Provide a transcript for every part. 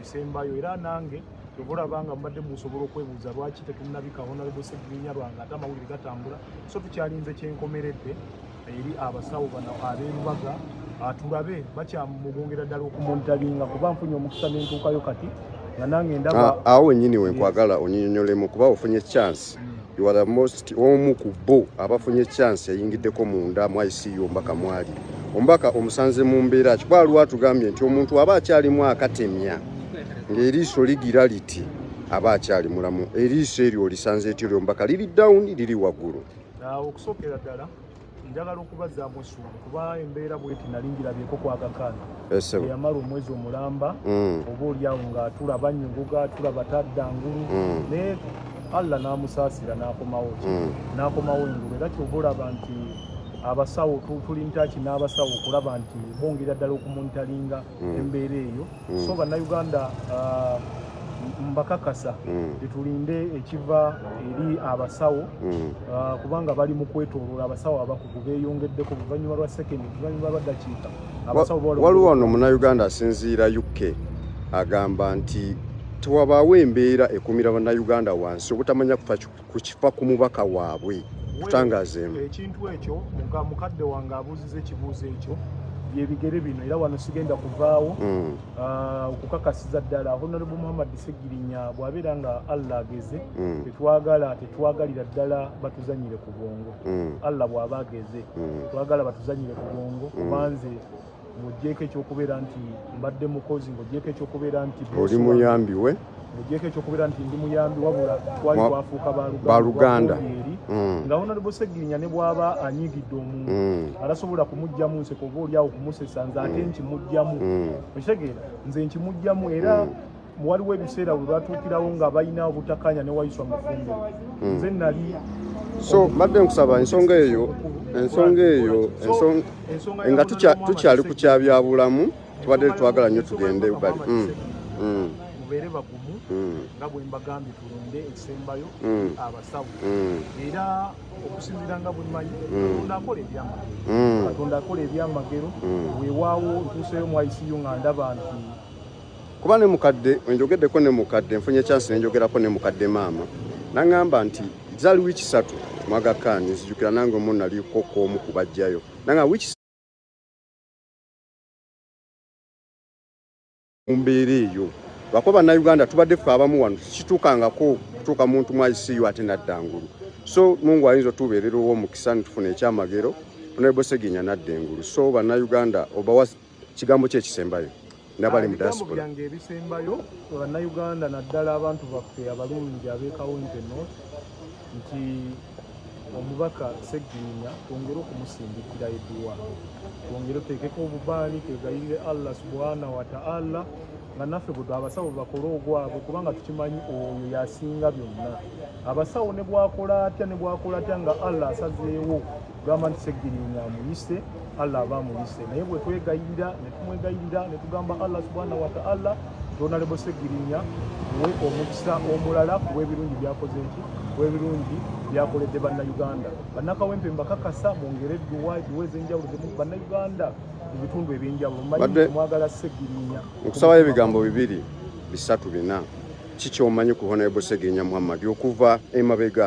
esembayo era nange kyova olaba nga mubadde musobola okwebuuza lwaki tetunabika honalebo segirinya lwange ate amawulire gatambula so tukyalinze kyenkomeredde eri abasawo bano aberubaga ah, tulabe bakyamugongera ddala okumuntalinga kuba nfunye omukisa nentuukayo kati nga nange ndaba ah, awo wenyini wenkwagala onyinyonyolemu kuba ofunye chance you are the most omu ku bo abafunye chance yayingiddeko munda mu ICU ombaka mwali ombaka omusanze mu mbeera ki bwaliwo atugambye nti omuntu aba akyalimu akatemya ng'eriiso ligira liti aba akyali mulamu eriiso eryo olisanze etyo lyombaka liri down liri waggulu okusookera ddala njagala okubazaamu essuubi kuba embeera bweti nali ngirabyeko kwagakaana eyamala omwezi omulamba mm. oba olyawo ngaatula banyuguga atula batadda ngulu mm. naye allah n'amusaasira n'akomawo mm. n'akomawo engulu era kyova olaba nti abasawo tuli ntaki n'abasawo okulaba nti bongera ddala okumuntaliinga mm. embeera eyo mm. so bannayuganda uh, mbakakasa mm. tetulinde ekiva eri abasawo mm. uh, kubanga bali mu kwetoloola abasawo abakugu beeyongeddeko luvannyuma lwa sekendi luvannyuma lwa dakiika waliwo ono munayuganda asinziira uk agamba nti tewabaawo embeera ekumira bannayuganda wansi obutamanya kufa ku kifa ku mubaka waabwe kutangazeemu ekintu ekyo mukadde wange abuuziza ekibuuzo ekyo byebigere bino era wano sigenda kuvaawo mm. ah, okukakasiza ddala honorable muhammad segirinya bwabeera nga allah ageze mm. tetwagala tetwagalira ddala batuzanyire ku bwongo mm. allah bwaba ageze twagala batuzanyire ku bwongo kubanze ng'ogyeko ekyokubeera nti mbadde mukozi ng'ogyeko ekyokubeera nti oli muyambi we ng'ogyeko ekyokubeera nti ndi muyambi wabula twali twafuuka baluganda eri mm. nga honalebo segirinya ne bw'aba anyiigidde omuntu mm. alasobola kumugjamu nseko oba oli awo kumusesa nze ate mm. nkimugjamu okitegeera nze nkimugjamu era waliwo ebiseera we batuukirawo nga balina obutakanya ne wayiswa mufumbo hmm. nze nali so mbadde nkusaba ensonga eyo ensonga eyo nga tukyali ku kyabyabulamu tubadde twagala nnyo tugende bali hmm. hmm. mubeere bagumu nga bwe mbagambye tulonde ekisembayo abasawo era okusinzira nga bwemanyi katonda akola ebyamagero katonda akola ebyamagero wewaawo ntuuseyo mu iciu nga ndaba nti kuba ne mukadde enjogeddeko ne mukadde nfunye chance nenjogerako ne mukadde maama naŋŋamba nti zali wiiki satu mwagakaani nzijukira nange omu naliko kwomu kubajjayo nanga wiiki mu mbeera eyo lwakuba bannayuganda tubadde ffe abamu wano kituukangako kutuuka muntu mu iciu ate nadda ngulu so mungu ayinza otubeerera ow'omukisa nitufuna ekyamagero onaebosegenya nadda engulu so bannayuganda obawa kigambo kye kisembayo nabali mu diaspora yange ebisembayo bana Uganda naddala abantu baffe abalungi abekawo nte no nti omubaka segirinya twongere okumusindikira eduwa twongere oteekeko obubaani twegayirire allah subhana wataala nga naffe bwe abasawo bakole ogwabwe kubanga tukimanyi oyo yasinga byonna abasawo ne bwakola atya ne bwakola atya nga allah asazeewo gamba nti segirinya amuyise allah aba amuyise naye bwe twegayirira ne tumwegayirira ne tugamba allah subhanahu wataala tonalebo segirinya we omukisa omulala kuwebirungi byakoze nti webirungi byakoledde bannayuganda bannakawempe mbakakasa mwongere edduwa edduwa ez'enjawulo zemu bannayuganda mu bitundu eby'enjawulo manyi mwagala segirinya nkusabayo ebigambo bibiri bisatu bina kikyomanyi ku honable segirinya muhammadi okuva emabega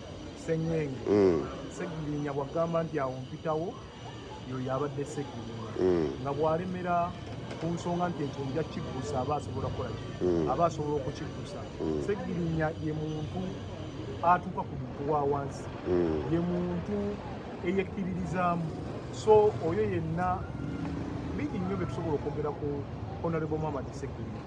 senyenge mm. segirinya bwagamba nti awo mpitawo yoyo abadde segirinya mm. nga bwalemera ku nsonga nti ekyo nja kiggusa aba asobola kukolaki mm. aba asobola okukiggusa segirinya ye muntu atuuka ku muntu wa wansi ye muntu eyekkiririzaamu so oyo yenna bingi nnyo bye tusobola okwogera ku honorable mamadi segirinya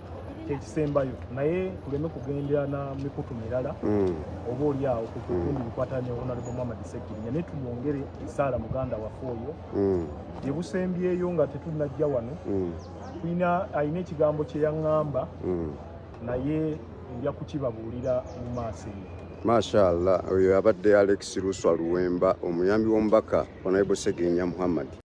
kyekisembayo naye tuleme kugendera na mikutu mirala mm. oba oli awo kukundi mm. bikwatana ne honalebo muhammad sekirinya naye tumwongere esaala muganda waffe oyo mm. gyebusembyeyo nga tetunajja wano tulina alina ekigambo kyeyaŋŋamba naye nja kukibabuulira mu maaso eyo mashallah oyo abadde alex luswa luwemba omuyambi w'omubaka honalebo segirinya muhammad